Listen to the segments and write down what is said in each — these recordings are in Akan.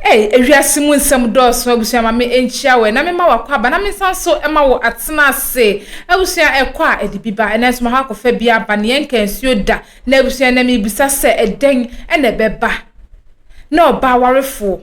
Ei, ewiase mu nsɛm dɔɔso, abusua, ma me nkyia wo ɛ, na me ma wo akwaaba, na me nsa nso ma wo atena ase. Abusua, ɛkɔ a ɛde bi ba, nanso mahɔ akɔfa bi aba, nea ɛnka nsuo da. Na abusua, na merebisa sɛ, ɛdɛn na ɛbɛba? Na ɔbaa awarefoɔ,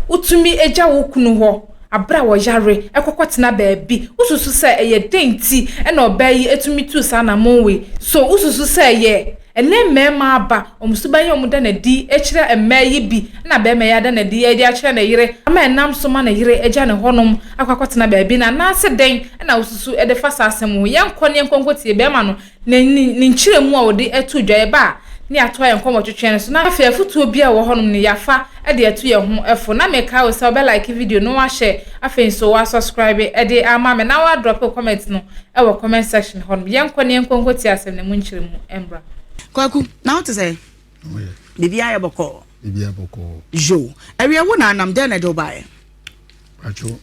wotumi gya wo kunu hɔ bere a ɔyare kɔ kɔtena baabi. Wosusu sɛ ɛyɛ dɛn nti na ɔbaa yi tumi tuu saa anammɔn wei? So wosusu sɛ ɛyɛ Ɛnnɛ mmarima aba wɔn suban yi a wɔda no adi kyerɛ mmaa yi bi na barima yi ada no adi de akyerɛ ne yere ama ɛnam so ma ne yere agya no hɔnom akɔ akɔtena baabi no anaasɛ dɛn na wosusu de fa saa asɛm ho? Yɛnkɔ na yɛnkɔ nkɔtie barima no ne ne nkyerɛmu a ɔde too dwa. Yɛba a na yɛatoa yɛn nkɔmmɔtwetwe no so na afei afotuo biara a ɛwɔ hɔnom no yɛafa de atu yɛn ho fo na mekae wo sɛ wobɛ like video no wahyɛ afei nso wa subscribe de ama me na wa drop wo comment no wɔ comment section hɔ nom yɛnkɔ na yɛnkɔ nkɔ tie asɛm no mu nkyerɛmu mbra. Kwaku, na wo te sɛ? Na wo yɛ? Biribiara yɛ bɔkɔɔ. Biribiara bɔkɔɔ. Yo, ɛwiɛ wo na anam dɛn na ɛde wo baeɛ? Atwo,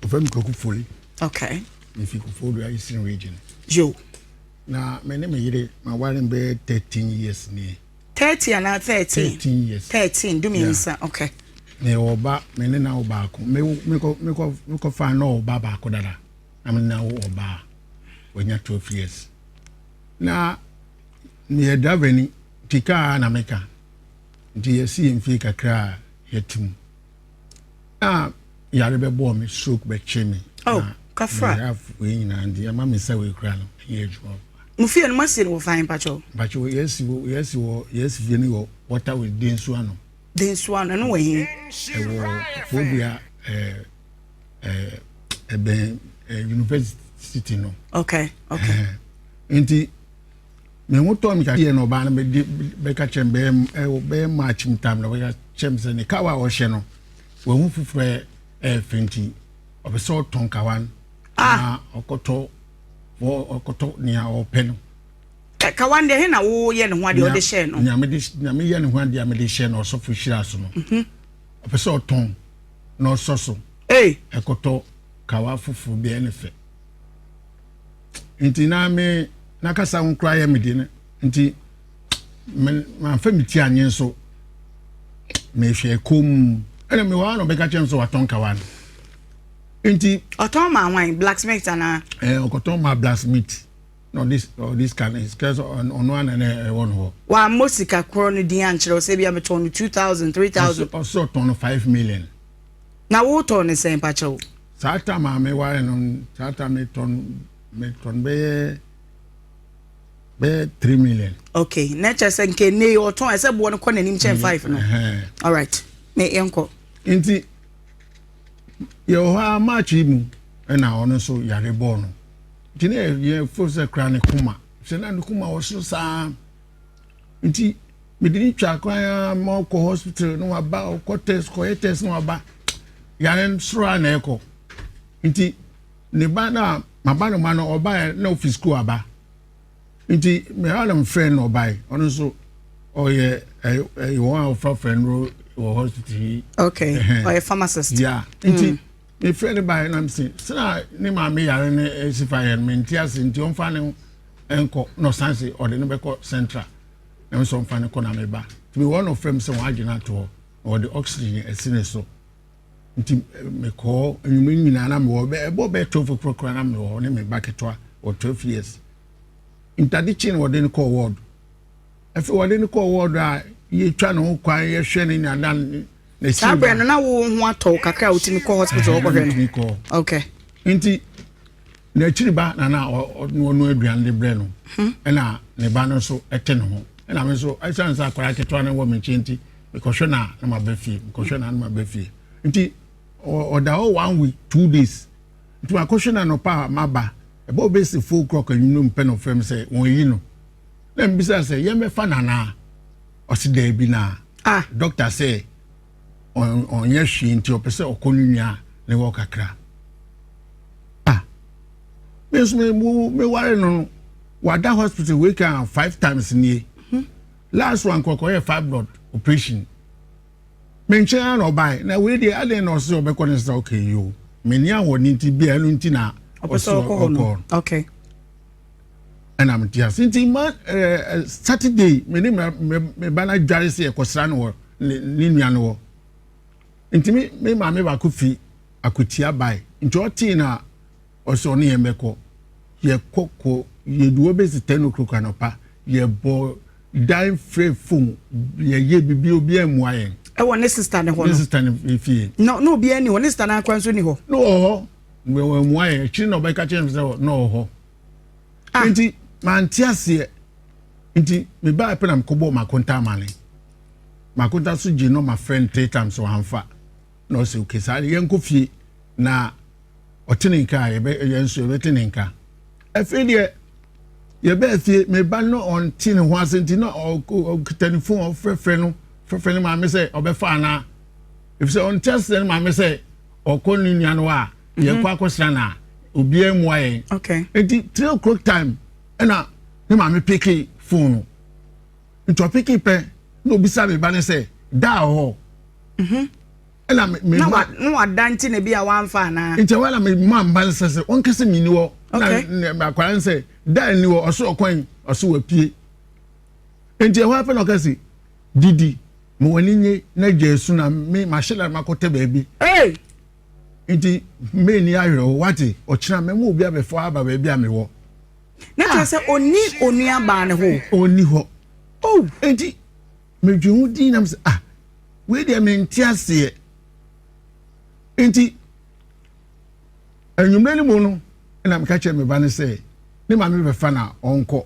ɔfɛ mi Kwaku Foli. Okay. Me fi Koforidua Eastern Region. Yo. Na me ne me yere ma ware bɛyɛ thirteen years nie. Thirty anaa thirteen. Thirteen years. Thirteen du mmiɛnsa ok. Na yɛ wɔ ba me ne na wɔ baako me mekɔ mekɔ mekɔ fa na wɔ ba baako dada na me na wɔ ɔbaa wɔnya twelve years na meyɛ driver ni nti kaa na meka nti yɛsi yɛn fie kakra yɛte mu. a yare bɛbɔɔ me stroke bɛtwe me oh, kafra wei nyinaa nti ɛma me sɛ wei kora no ɛnyɛ adwuma mo fie no moasi no wɔ fan mpakyɛw mpakyɛw yɛasi yɛasi wɔ yɛasi fie no wɔ wɔta wɔ de nsu ano de nsu ano ɛno wɔ he ɛwɔ fodua ɛɛ ɛɛ ɛbɛn university no okay okay nti Me ho tɔɔ me kakra na ɔbaa no bɛde bɛka kyerɛ me bɛyɛ bɛyɛ march mu tam na ɔbɛka kyerɛ me sɛ ne kawa a ɔhyɛ no wahu foforɔ yɛ ɛɛfɛ nti ɔpɛ sɛ ɔtɔn kawa no ah! na ɔkɔtɔ ɔkɔtɔ nea ɔpɛ no. kawa deɛ he na woyɛ ne ho adeɛ ɔde hyɛ no nea meyɛ ne ho adeɛ a mede hyɛ no ɔsɔfo hyira so no mhm. ɔpɛ sɛ ɔtɔn na ɔsɔ so ɛkɔtɔ kawa foforɔ biara ne fɛ nti na me n'akasa ho koraa yɛ me de no nti manfa me ti anyen so mehwɛ kom ɛna mewɔ ano bɛka kyɛm sɛ watɔn kawa no nti ɔtɔn ma wan blacksmith anaa ɛɛ ɔkɔtɔn ma blacksmith na ɔde ɔde sika no sika sɛ ɔno ana na ɛwɔ no hɔ wammɔ sika korɔ no din ankyerɛ sɛ bia metɔn no 2000 3000 ɔsɛ ɔtɔn no 5 million Na wo tɔn ne sɛn pakyɛw? Saa tam a me ware no saa tam me tɔn me tɔn bɛyɛ bɛyɛ three million. Okay na ɛkyɛ sɛ nke ne yɛ ɔtɔn ɛsɛ boɔ no kɔ n'anim kyɛn mm-hmm. five no. All right me yɛn kɔ. Nti yɛ wɔ hɔ a March yi mu ɛna ɔno nso yare bɔɔ no nti ne yɛ fo sɛ kura ne koma sɛ na ne koma wɔ so saa. Nti me de no twa kwan ara ma ɔkɔ hospital na waba ɔkɔ test kɔyɛ test na waba yare soro a na ɛkɔ nti ne ba na maba no ma no ɔbaeɛ na ofi sukuu aba nti mmeawa na mfrɛ no ɔbaeɛ ɔno nso ɔyɛ ɛyɛ wɔn a wɔfrafra no wɔ hospital yi. okay ɔyɛ pharmacist. ya nti. Mm. Mefrɛɛ no baeɛ na mese, sena ne maame yare no si fa yɛ no mente ase nti ɔmfa no nkɔ na ɔsan se ɔde no bɛkɔ central na mesɛ ɔmfa no kɔ na meba nti mewɔ na ɔfrɛ me sɛ wɔn adwene ato hɔ na wɔde oxygen asi ne so nti eh, mekɔɔ anwuma nyinaa na mewɔ ɛbɔ bɛɛ twelve o'clock koraa na mewɔ hɔ ne me ba ketewa wɔ twelve years ntade kyi na wɔde no kɔɔ ward Afei wɔde no kɔɔ wɔɔdo a yɛtwa ne ho kwan yɛhwɛ ne nyadan ne saa berɛ no na wo ho atɔ wo kakra a wotumi kɔ hospital wɔkɔhwɛ no okay nti n'akyiri ba na na ɔno aduane de brɛ no hmm. ɛna ne ba no nso ɛte ne ho ɛna me nso ɛsiane sɛ akwadaa ketewa no wɔ me nkyɛn nti mekɔhwɛ no a na maba fie mekɔhwɛ no a na maba fie nti ɔda hɔ one week two days nti makɔhwɛ no anɔpa a maba ɛbɛ ɔbɛsi four o'clock anwummerɛ mu pɛ na ɔfrɛ me sɛ wɔn ayi no na mbisa sɛ yɛmɛfa no anaa ɔse daabi na ah. doctor sɛ ɔnyɛ hwee nti ɔpɛ sɛ ɔkɔ no nua ne hɔ kakra ah. me nso meware no no wada hospital wei ka five times nie mhm. last one kɔkɔyɛ fibroid operation me nkyɛn ara na ɔbae na wei deɛ adɛn na ɔse ɔbɛkɔ ne sɛ okay yo meni ahoɔden nti bia ɛno nti na ɔse ɔkɔ no okay ɛna mete ase nti ma ɛɛ saturday me ne me ba no adware sɛ yɛkɔsra no wɔ ne nua no wɔ nti me me maame baako fi akotia bae nti ɔtee na ɔsɛ ɔne yɛn bɛkɔ yɛkɔ kɔ yɛduɔ bɛsi ten o'clock anɔpa yɛbɔ dan frɛ fom yɛyɛ biribi obi ammua yɛn ɛwɔ ne sista ne hɔ no ne sista ne fie na obi ani hɔ ne sista no akwa nso ni hɔ na ɔhɔ wɔammua yɛ akyiri na ɔbɛka kyerɛ me sɛ na ɔwɔ hɔ ah. nti mante aseɛ nti mebaa pɛ na mekɔbɔɔ makonta amane makonta so gye nɔma frɛ no three times wɔamfa na ɔsɛ okay saa de yɛnkɔ fie na ɔte ne nka a yɛn nso yɛbɛte ne nka afei deɛ yɛbɛɛ fie meba no ɔnte ne ho ase nti na ɔkuta ne fon ɔfrɛfrɛ no frɛfrɛ ne maame sɛ ɔbɛfa anaa ɛfisɛ ɔnte aseɛ ne maame sɛ ɔkɔ ne nua no a mhm. yɛkɔ akɔsra no a obiara mmua yɛn nti three o'clock time ɛna ne maame peke fon no nti ɔpeke pɛ na obisa me ba no sɛ daa hɔ mhm. ɛna me ma na wada nti na bi a wamfa anaa nti ɛwɔ na me ma mba no sɛ sɛ ɔnkɛsɛ me ni hɔ na akwara no sɛ daa ni hɔ ɔso ɔkwan ɔso wapie nti ɛhɔ apɛ na ɔkɛse Didi, ma w'ani nnye na gya asu na me mahye lare makɔtɛ baabi. Ei! Enti menni awerɛhow, woate? Ɔkyena mɛma obi abɛfa aba baabi a mewɔ. Na kyerɛ sɛ onni onuabaa no hɔ o. Onni hɔ. Oh! Enti midwen ho dinn na mise, ah, wei deɛ mente aseɛ. Enti anwummere no mu no, na meka kyerɛ me ba no sɛ ne maame bɛfa na ɔnkɔ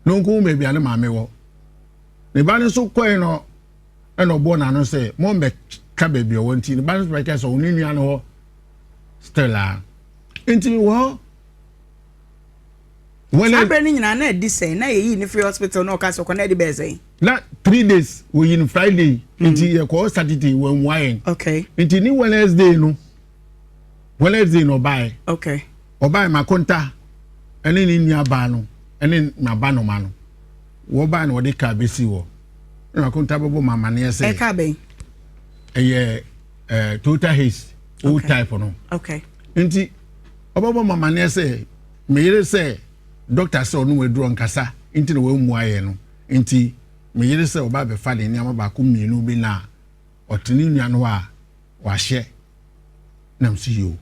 na ɔnkɔhu baabi a ne maame wɔ. ne ba no nso kɔe no ɛna ɔbɔɔ n'ano sɛ mommɛka baabi ɔwɔ nti ne ba no nso bɛka sɛ ɔno nua no hɔ still a nti wɔ hɔ saa berɛ no nyinaa na ɛdi sɛn na yɛyii ne firi hospital na ɔka sɛ ɔkɔ na ɛde bɛɛ sɛn na three days wɔyi no friday hmm. nti yɛkɔɔ saturday wɔammua yɛn okay. nti ne wednesday no wednesday no ɔbaeɛ okay. ɔbaeɛ makonta ɛne ne nua baa no ɛne naba noma no wɔbae na wɔde kaa bɛsii hɔ na akonta bɛbɔ ma amaneɛ sɛ ɛka bɛn ɛyɛ ɛɛ toyota haze old okay. type no okay. nti ɔbɛbɔ ma amaneɛ sɛ meyere sɛ dɔkta sɛ ɔno waduro nkasa nti na wɔammua yɛ no nti meyere sɛ ɔba bɛfa ne nneɛma baako mmienu bi na ɔte ne nua no a wahyɛ nam si yio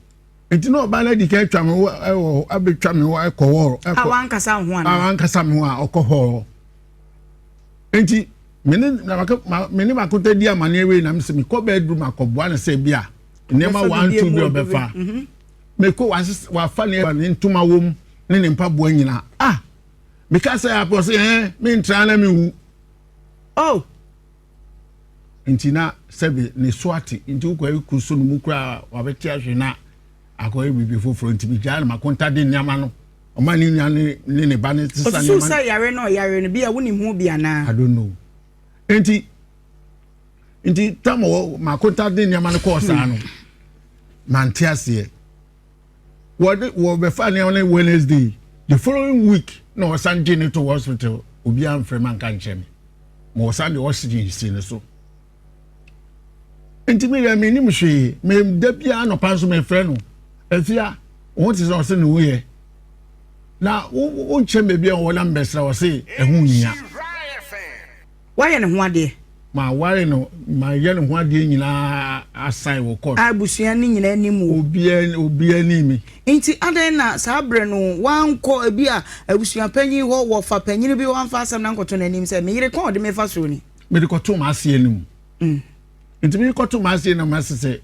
nti na ɔbaa no adi kan atwa me ho wɔ hɔ abɛtwa me ho akɔ hɔ akɔ a wankasa ho ana a wankasa me ho a ɔkɔ hɔ nti me ne na maka me ne makota di amaneɛ wei na mesɛ mekɔ bɛaduru makɔboa no sɛ bi a nneɛma wanto bi ɔbɛfa mhm. mekɔ wafa ne ɛba ne ntoma wom ne ne mpaboa nyinaa ah meka sɛ apɔ sɛ ɛɛ mentra na mewu oh nti na sɛbi ne so ate nti wokɔyɛ kuru so no mu koraa wabɛte ahwe na akɔyɛ biribi foforɔ nti megyaa no makonta de nneɛma no ɔma ne nua ne ne ba no sesa nneɛma no. ɔsusu sɛ yare no ɔyare no bi a wonim ho bi anaa. I don't know nti nti tam wɔ makonta de nneɛma no kɔɔ saa no mante aseɛ. wɔde wɔbɛfa ne ne wednesday the following week na wɔsan gye ne to hospital obiara mfrɛ ma nka nkyerɛ me ma wɔsan de oxygen si ne so nti me yɛ me nim hwee me da biara nɔpa nso mefrɛ no afia wɔn te sɛ ɔse ne ho yɛ na wonkyɛn baabi a wɔnam bɛsra ɔse ɛho nyia Wayɛ ne ho adeɛ. Maware no, mayɛ ne ho adeɛ nyinaa asan wɔ kɔɔt. A abusua no nyinaa nim wo. Obiara obiara nim me. Nti adɛn na saa berɛ no woankɔ ebi a abusuapanyin hɔ, wɔfa panyin bi hɔ amfa asɛm no ankɔto n'anim sɛ, me yere kɔn ɔde me fa soro ni? Mede kɔtoo m'aseɛ no mu. Mm. Nti mede kɔtoo m'aseɛ no mu ase sɛ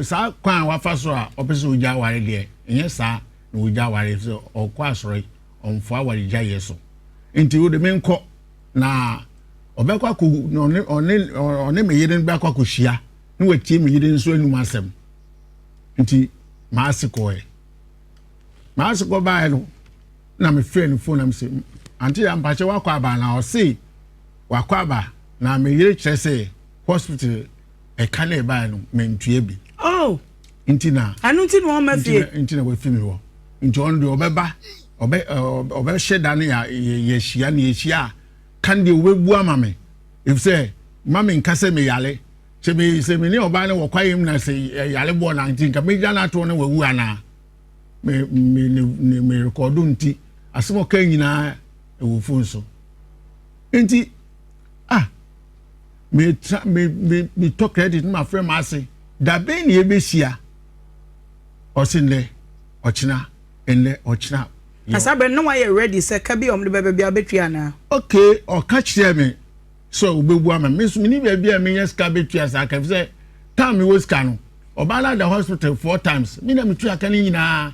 saa kwan a wafa so a ɔpɛ sɛ ogya aware deɛ ɛnyɛ saa na ogya aware sɛ ɔkɔ asɔre ɔmfoa awaregyaeɛ so nti wode menkɔ na ɔbɛkɔ akɔ ɔne ɔne ɔne me yere no bɛkɔ akɔhyia na watie me yere nso anum asɛm nti maase kɔɛ maase kɔ baeɛ no na mefrɛ no fon na mesɛ ante yɛ ampakyɛ wakɔ aba na ɔse wakɔ aba na me yere kyerɛ sɛ hospital ɛka na ɛbaeɛ no mentua bi oh. nti na ɛno nti na ɔma fie nti na wafi mi hɔ nti ɔno deɛ ɔbɛba ɔbɛ ɔbɛhyɛ da no yɛhyia ne yɛhyia a kan deɛ ɔbɛbu ama me efisɛ ma me nka sɛ meyale sɛ me sɛ me ne ɔbaa no wɔkwa yam na sɛ yale boɔ na nti nka mɛgyina no atoɔ na wawu anaa me me ne me rekɔdo nti asɛm ɔka nyinaa ɛwɔ fon so nti ah me tra me me me tɔ credit ma frɛ ma ase dabe ne ebehyia ɔsi nnɛ ɔkyena nnɛ ɔkyena. kasa bɛ no wayɛ ready sɛ ka bi a wɔn de bɛbɛ bi abɛtwi anaa. okay ɔka kyerɛ mi sɛ ɔbɛbu ama mi nso mi ni baabi a mi nya sika bɛtwi asa aka fi sɛ taa mi wɔ sika no ɔbaa no ada hospital four times mi na mi twi aka ne nyinaa.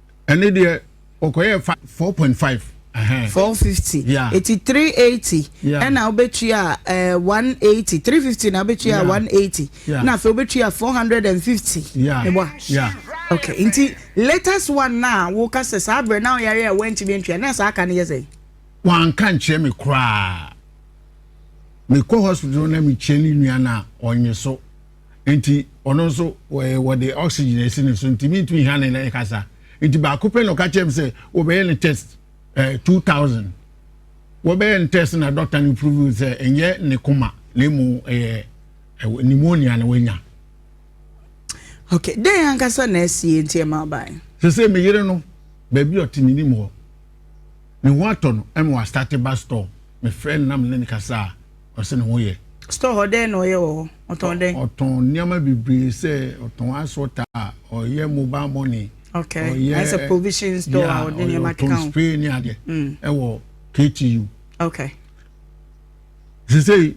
ɛne deɛ ɔkɔyɛ four point five. four fifty eti three eighty ɛna wobɛtua eh, one eighty three fifty na wobɛtua one eighty na afei wobɛtua four hundred and fifty meboa okay nti latest one na woka sɛ saa berɛ na woyare a woantumi antua na saa ka no yɛ sɛ wanka nkyerɛ me koraa mekɔ hospital na mekyerɛ ne nua no a ɔnye so Nti ɔno nso wɔyɛ wɔde oxygen asi ne so nti mintumi hia ne ne kasa nti baako pɛ na ɔka kyerɛ me sɛ wɔbɛyɛ ne test ɛɛ eh, two thousand wɔbɛyɛ ne test na dɔkta no prove sɛ ɛnyɛ ne koma na emu ɛyɛ ɛwɔ pneumonia na wɔanya. okay dɛn ankasa na asie nti ɛma ɔbae. sɛ sɛ me yere no baabi ɔte ne nim hɔ ne ho atɔ no ɛma wɔastate ba store mefrɛ no na me ne ne kasa a Ɔsɛ ne ho yɛ. Store hɔ dɛn na ɔyɛ wɔ hɔ? Ɔtɔn dɛn? Ɔtɔn nneɛma bebree sɛ ɔtɔn asɔta, ɔyɛ mobile money. Okay. Ɔyɛ sɛ provision store a ɔde nneɛma keka ho. Ɔtɔn spray ne adeɛ. Mm. Ɛwɔ KTU. Okay. Sese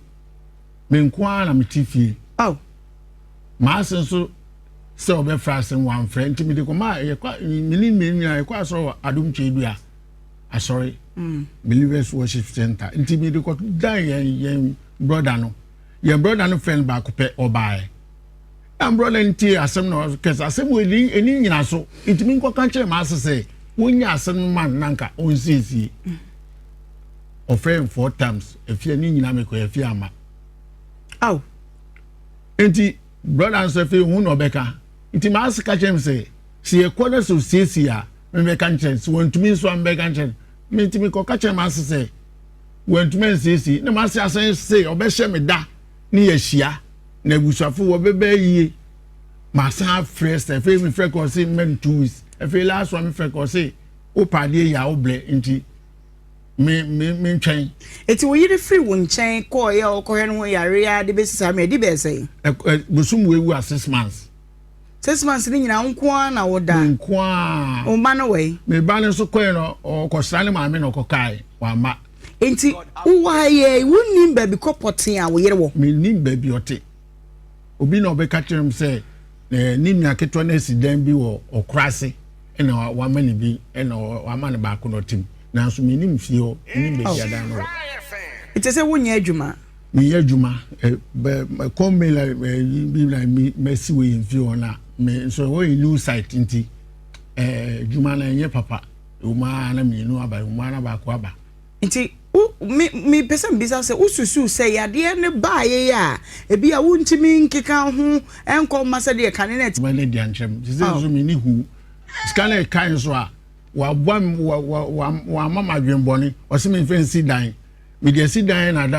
me nko ara na mete fie. Oh. Maa se nso sɛ ɔbɛfra asɛm wamfrɛ nti mede kɔma yɛkɔ mene mmeri nyinaa yɛkɔ asɔrɔ wɔ adom kyɛ dua asɔre mm. believers worship center nti mi de kɔ da yɛn yɛn broda no yɛn broda no friend baako pɛ ɔbaayɛ na broda no tie asɛm na kɛse asɛm wɔ ɛni ɛni nyina so nti mi nkɔ kan kyerɛ maa sɛ wonye asɛm no ma nanka onsiesie ɔfrɛ n four times efie ne nyina mi kɔ efie ama aw nti broda no sɛ fi hu na ɔbɛka nti maa sɛ ka kyerɛ mi sɛ sɛ yɛ kɔ na sɛ osiesie a. mebɛka nkyerɛ sɛ wantumi nso a mebɛka nkyerɛ menti mekɔka kyerɛ m'ase sɛ wantumi ansiesie na m'ase asan se ɔbɛhyɛ me da ne yɛahyia na abusuafo wɔbɛbɛ yie masan afrɛ sɛ afei mefrɛ kɔ se mmɛn two weeks afei last one mefrɛ kɔ se wopa adeɛ yɛ a wobrɛ nti me me me ntwɛn. eti wo yere firi wo nkyɛn kɔɔ yɛ ɔkɔhwɛ no ho yare a de besi saa mmerɛ di bɛɛ sɛn. bosom wo ewu a six months. Six months ni nyinaa nko ara na wo da. Nko ara. O ba no wɛn. Me ba no nso kɔɛ no ɔkɔsra ne maame na ɔkɔkae wama. Nti wowɔ ha yɛ wonim baabi kɔ pɔtee a wo yere wɔ. Menim baabi ɔte. Obi na ɔbɛka kyerɛ m sɛ eh, ne nua ketewa no asi dan bi wɔ ɔkora ase ɛna wama ne bi ɛna wama ne baako na ɔtem nanso menim fie hɔ menim baabi adan no wɔ. Ɛte sɛ wonyɛ adwuma. meyɛ adwuma mɛkɔ mail ɛyi bi na mi mɛsi wɔ yɛn fie hɔ na me nso ɛhɔ yɛ new site nti ɛɛ adwuma na ɛnyɛ papa ɔmaa na mmienu aba ɔmaa na baako aba. nti wo me me pɛ sɛ mbisa sɛ wosusu sɛ yadeɛ ne baayɛ yɛ a ebi a wontumi nkeka ho nkɔ mma sɛ deɛ kane na ɛte. mɛ ne deɛ nkyɛn mu sisi nso mi ni hu sika na ɛka nso a waboa wa wa wa wa ama ma adwene bɔne ɔsi mi nfɛn si dan mi deɛ si dan na da.